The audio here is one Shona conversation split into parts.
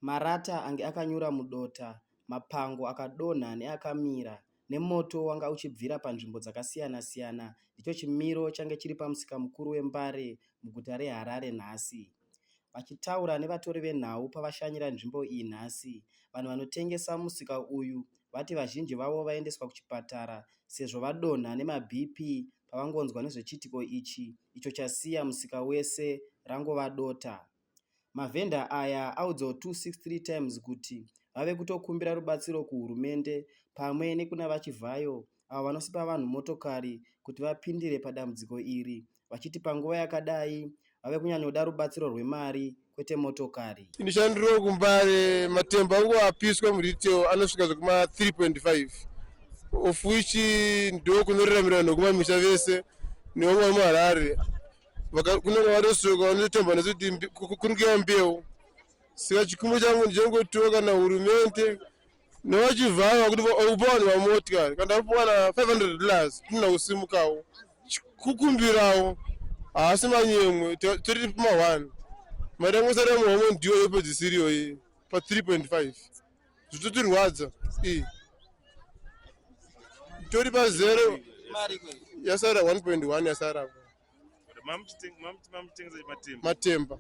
Marata ange akanyura mudota, mapango akadonha neakamira, nemoto wanga uchibvira panzvimbo dzakasiyana siyana, ndicho chimiro change chiri pamusika mukuru weMbare muguta reHarare nhasi. Vachitaura nevatori venhau pavashanyira nzvimbo iyi nhasi, vanhu vanotengesa musika uyu vati vazhinji vavo vaendeswa kuchipatara sezvo vadonha nemaBP pavangonzwa nezvechiitiko ichi icho chasiya musika wese rangova dota. Mavhendor aya audzawo 263 Times kuti vave kutokumbira rubatsiro kuhurumende pamwe nekuna VaChivhayo avo vanosipa vanhu motokari kuti vapindire padambudziko iri vachiti panguva yakadai vave kunyanyoda rubatsiro rwemari kwete motokari. Ndishandiro kumbare matembo angu apiswa muretail anosvika zvekuma 3.5 of which ndokunoriramira vanhu vekumamisha vese nevamwe vari muharare kune vanosuka vanotemba nesu kuti kukurukira mbeu saka chikumbo changu ndichangotiwa kana hurumende nevachivhara kuti ukupa vanhu vamotikari kana tapuwana 500 dollars tinona kusimukawo kukumbirawo haasi manyemwe tori pama one mari yangu sara muhomwe ndiyo yopedzisiriyoyi pa 3.5 zvitotirwadza iyi tori pazero yasara 1.1 yasara matemba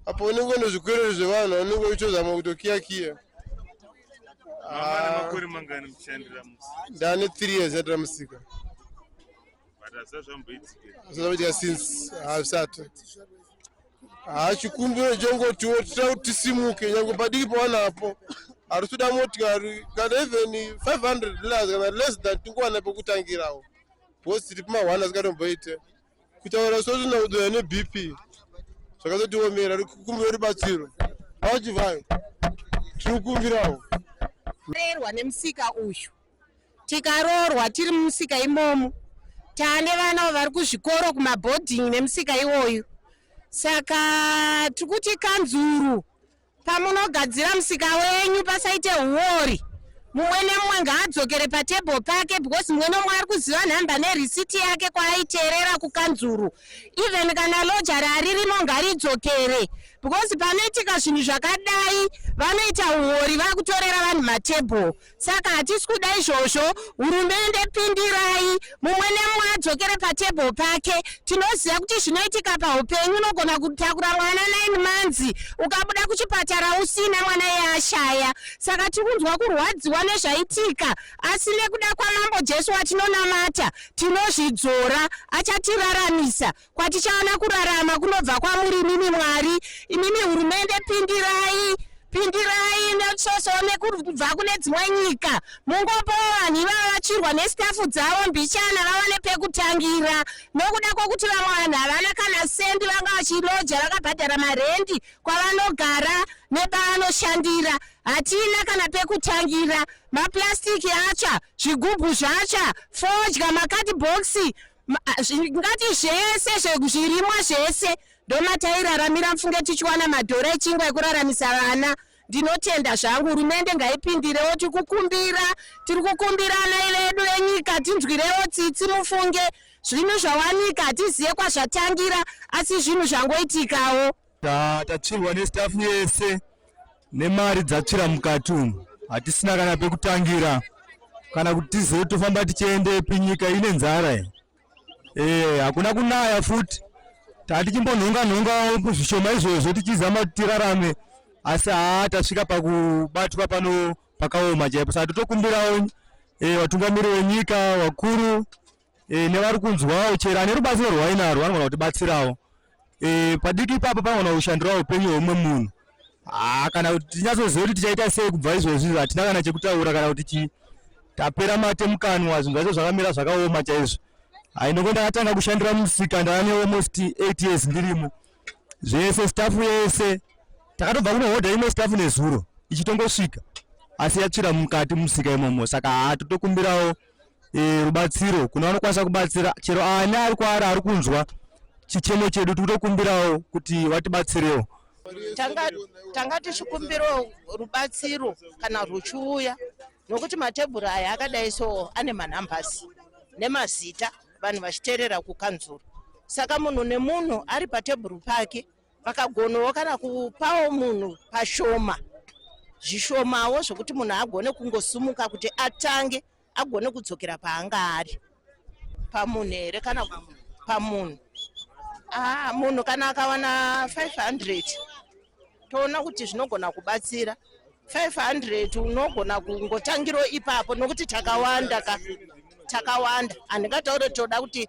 apo unenge une zvikwerero zvevanhu unenge uchitozama kutokiya kiya ah. ndane 3 years yatira musika zvazvamboitika since hazvisati haa chikumbiro chongotiwo tita kuti tisimuke nyange padiki pawanapo hatitoda motikari kana even 500 dollars kana less than tingowana pekutangirawo bcause tiri pamahwana asingatomboite kutaura sotona kudoya nebp zvakazotiomera kukumbira rubatsiro achivayo tiri kukumbirawo erwa nemusika uyu tikaroorwa tiri mumusika imomo tane vana vari kuzvikoro kumabhodhingi nemusika iwoyu saka tiri kuti kanzuru pamunogadzira musika wenyu pasaite huori mumwe nemumwe ngaadzokere patable pake because mumwe nomwe ari kuziva nhamba nerisiti yake kwaaiteerera kukanzuru even kana lojari aririmo ngaridzokere because panoitika zvinhu zvakadai vanoita uori vakutorera vanhu matable saka hatisi kuda izvozvo hurumende pindirai mumwe nemumwe adzokere patable pake tinoziva kuti zvinoitika paupenyu unogona kutakura mwana nine months ukabuda kuchipatara usina mwana iye ashaya saka tiri kunzwa kurwadziwa nezvaitika asi nekuda kwamambo jesu watinonamata tinozvidzora achatiraramisa Kwatichaona kurarama kunobva kwamuri imimi Mwari, imimi hurumende pindirai pindirai netsvosowo nekubva kune dzimwe nyika mungopawo vanhu ivava vachirwa nesitafu dzavo mbichana vava nepekutangira nokuda kwokuti vamwe vanhu havana kana sendi vanga vachiloja vakabhadhara marendi kwavanogara nepavanoshandira hatina kana pekutangira mapurasitiki atsva zvigubhu zvatsva fodya makadhibhokisi ngati zvese zvirimwa zvese ndomatairaramira mfunge tichiwana madhora echingwa ekuraramisa vana ndinotenda zvangu hurumende ngaipindirewo tiri kukumbira tiri kukumbira ana vedu venyika tinzwirewo tsitsi mufunge zvinhu zvawanika hatizive kwazvatangira asi zvinhu zvangoitikawo Tatsvirwa nestafu yese nemari dzatsvira mukati umu, hatisina kana pekutangira kana kuti tizive tofamba tichiendepi. Nyika ine nzara iyi, eh, hakuna kunaya futi. Tatichimbonhonga nhonga zvishoma izvozvo tichizama kuti tirarame, asi haa tasvika pakubatwa pano pakaoma chaipo. Saka totokumbirawo eh, vatungamiri wenyika vakuru e, nevari kunzwawo chero ane rubatsiro rwainarwo anogona kutibatsirawo e, padiki ipapo panogona kushandirawo upenyu hweumwe munhu ah, kana kuti tinyatsoziva kuti tichaita sei kubva izvozvi hatina kana chekutaura kana kuti chii tapera mate mukanwa zvinhu zvacho zvakamira zvakaoma chaizvo hainoko ndakatanga kushandira musika ndane almost eight years ndirimo zvese stafu yese takatobva kunohodha imwe stafu nezuro ichitongosvika asi yatsvira mukati musika imomo saka haa totokumbirawo e, rubatsiro kuna vanokwanisa kubatsira chero ani ari kwaari ari kunzwa chichemo chedu tikutokumbirawo kuti vatibatsirewo tanga tichikumbirawo rubatsiro kana rwuchiuya nokuti matebhuru aya akadai so ane manhambasi nemazita vanhu vachiteerera kukanzuru saka munhu nemunhu ari patebhuru pake vakagonawo kana kupawo munhu pashoma zvishomawo zvokuti munhu agone kungosumuka kuti atange agone kudzokera paanga ari pamunhu here kana pamunhu aa ah, munhu kana akawana 500 toona kuti zvinogona kubatsira 500 unogona kungotangiro ipapo nokuti takawanda ka takawanda handingataure toda kuti